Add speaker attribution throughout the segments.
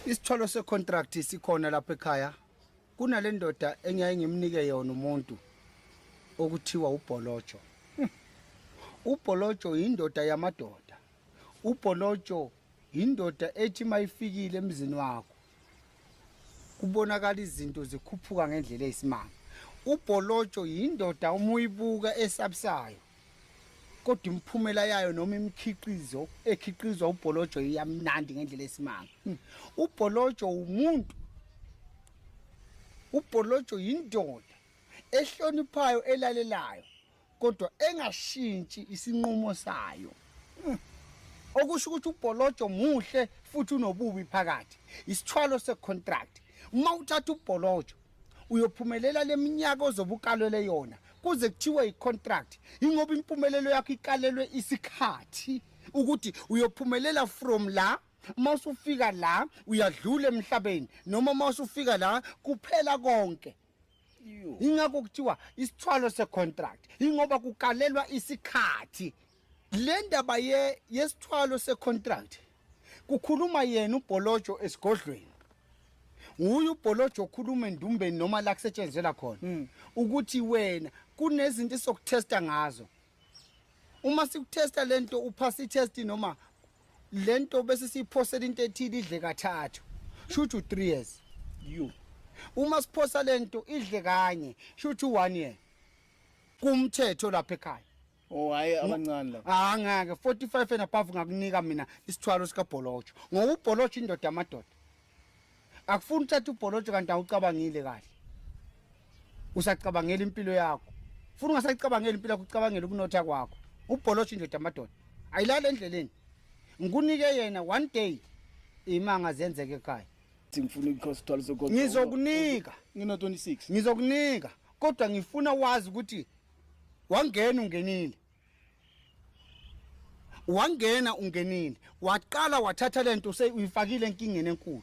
Speaker 1: Isithwalo secontract sikhona lapha ekhaya. Kunale ndoda engiyaye ngimnike yona umuntu okuthiwa ubholojo. Hmm. Ubholojo indoda yamadoda. Ubholojo indoda ethi mayifikile emzini wakho. Kubonakala izinto zikhuphuka ngendlela eyisimanga. Ubholojo indoda umuyibuka esabusayo. kodwa imiphumela yayo noma imikhiqizo ekhiqizwa ubholojo iyamnandi ngendlela esimanga hmm. ubholojo umuntu ubholojo yindoda ehloniphayo elalelayo kodwa engashintshi isinqumo sayo hmm. okusho ukuthi ubholojo muhle futhi unobubi phakathi isithwalo secontract uma uthatha ubholojo uyophumelela leminyaka ozobukalwele yona kuze kuthiwe icontract ingoba impumelelo yakho ikalelwe isikhathi ukuthi uyophumelela from la uma usufika la uyadlula emhlabeni noma uma usufika la kuphela konke ingakho kuthiwa isithwalo secontract ingoba kukalelwa isikhathi le ndaba ye yesithwalo secontract kukhuluma yena ubholojo esigodlweni nguye ubholojo okhuluma endumbeni noma la kusetshenzela khona hmm. ukuthi wena kunezinto esokutesta ngazo uma sikutesta lento uphasa itest noma lento bese siphosela into ethile idle kathathu shuthi u3 years you uma siphosa lento idle kanye shuthi u1 year kumthetho lapha ekhaya Oh hayi
Speaker 2: abancane la. Ah ngeke 45
Speaker 1: and above ngakunika mina isithwalo sika Bholojo. Ngoba uBholojo indoda amadoda. Akufuni uthatha uBholojo kanti awucabangile kahle. Usacabangela impilo yakho. Funa ungasacabangela impilo yakho ucabangela ukunotha kwakho. UBholojo indoda amadoda. Ayilale endleleni. Ngikunike yena one day imanga zenzeke ekhaya. Ngifuna ukukhosa
Speaker 2: isithwalo sogogo. Ngizokunika.
Speaker 1: Ngino 26.
Speaker 2: Ngizokunika.
Speaker 1: Kodwa ngifuna wazi ukuthi wangena ungenile wangena ungenile waqala wathatha lento useyifakile enkingeni enkulu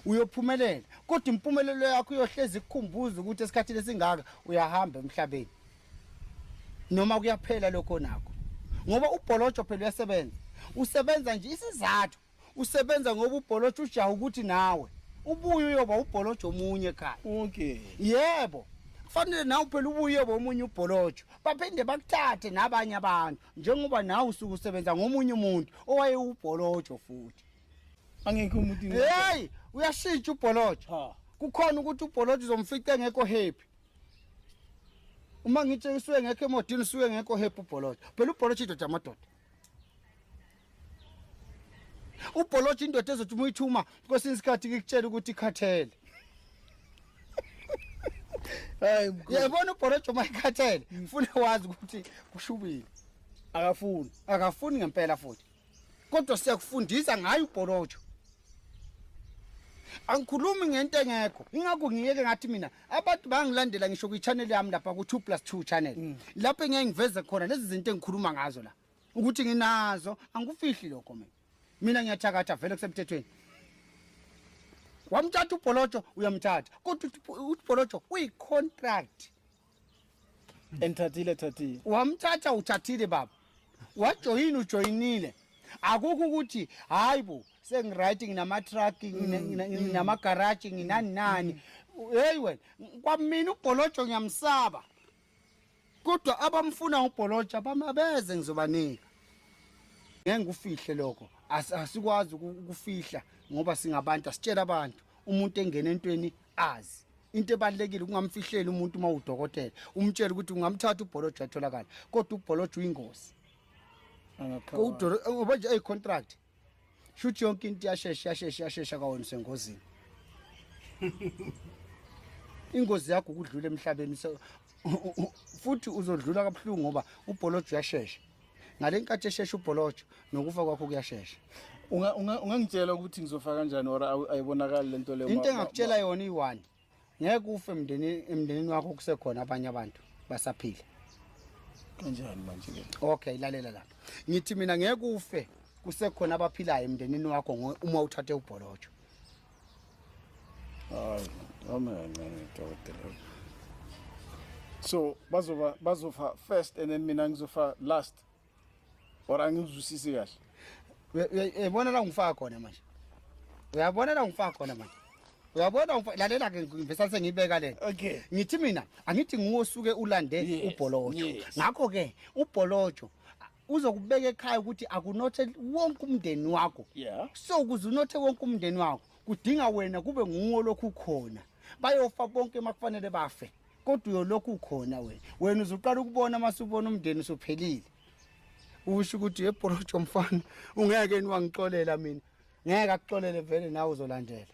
Speaker 1: uyophumelela kodwa impumelelo yakho uyohlezi ikukhumbuza ukuthi esikhathini esingaka uyahamba emhlabeni noma kuyaphela lokho nakho ngoba ubholojo phela uyasebenza usebenza nje isizathu usebenza ngoba ubholotsha ujaha ukuthi nawe ubuye uyoba ubholotsha omunye ekhaya okay
Speaker 2: yebo
Speaker 1: kufanele nawe phela ubuye uyoba omunye ubholotsha baphinde bakuthathe nabanye abantu njengoba nawe usuke usebenza ngomunye umuntu owayewubholotsha futhi angekho
Speaker 2: umuntu hey
Speaker 1: uyashintsha ubholotsha kukhona ukuthi ubholotsha uzomfica engekho happy uma ngitshengisiwe ngekho emodini usuke ngekho happy ubholotsha phela ubholotsha idoda amadoda ubholotsha indoda ezothi uma uyithuma kwesinye isikhathi ngikutshela ukuthi ikhathele
Speaker 2: hayi mkhulu yabona ubholotsha
Speaker 1: uma ikhathele ngifuna wazi ukuthi kushubile akafuni akafuni ngempela futhi kodwa siyakufundisa ngayo ubholotsha angikhulumi ngento engekho ingakho ngiyeke ngathi mina abantu bangilandela ngisho kwi-channel yami lapha ku-two plus two channel mm. lapho engeke ngiveze khona lezi zinto engikhuluma ngazo la ukuthi nginazo angikufihli lokho mina mina ngiyathakatha vele kusemthethweni wamthatha ubholotsho uyamthatha kodwa ubholotsho uyi-contract enthathile
Speaker 2: thathile wamthatha uthathile
Speaker 1: baba wajoyini ujoyinile akukho ukuthi hayi bo sengiright nginamatruck nginamagaraji nginani nani heyi wena kwamina ubholotsho ngiyamsaba kodwa abamfuna ubholotsha bami abeze ngizobanika ngeke ngikufihle lokho asikwazi ukufihla ngoba singabantu asitshela abantu umuntu engena entweni azi into ebalekile kungamfihleli umuntu uma udokotela umtshela ukuthi ungamthatha ubholojo atholakala kodwa ubholojo uyingozi ngoba nje eyicontract shuthi yonke into yashesha yashesha yashesha kawona usengozini ingozi yakho ukudlula emhlabeni futhi uzodlula kabuhlungu ngoba ubholojo uyashesha ngale nkathi eshesha ubholojo nokufa kwakho kuyashesha
Speaker 2: ungangitshela ukuthi ngizofa kanjani or ayibonakali le nto leyo into engakutshela yona
Speaker 1: iyi-one ngeke ufe emndenini emndenini wakho kusekhona abanye abantu basaphila
Speaker 2: kanjani manje ke okay lalela la
Speaker 1: ngithi mina ngeke ufe kusekhona abaphilayo emndenini wakho ngo- uma uthathe ubholotsho
Speaker 2: hayi amancane dokotela so bazoba bazofa first and then mina ngizofa last
Speaker 1: or angizwisisi kahle
Speaker 2: uyabona
Speaker 1: la ngifaka khona
Speaker 2: manje
Speaker 1: uyabona la ngifaka khona manje uyabona lalela ke ngivesa sengiyibeka lena okay ngithi mina angithi nguwe osuke ulande ubholojo
Speaker 2: ngakho
Speaker 1: ke ubholojo uzokubeka ekhaya ukuthi akunothe wonke umndeni wakho yeah so ukuze
Speaker 2: unothe
Speaker 1: wonke umndeni wakho kudinga wena kube nguwe lokhu khona bayofa bonke makufanele bafe kodwa uyolokhu ukhona wena wena uzuqala ukubona uma subona umndeni usuphelile usho ukuthi ebhorojo mfana ungeke niwangixolela mina ngeke akuxolele vele nawe uzolandela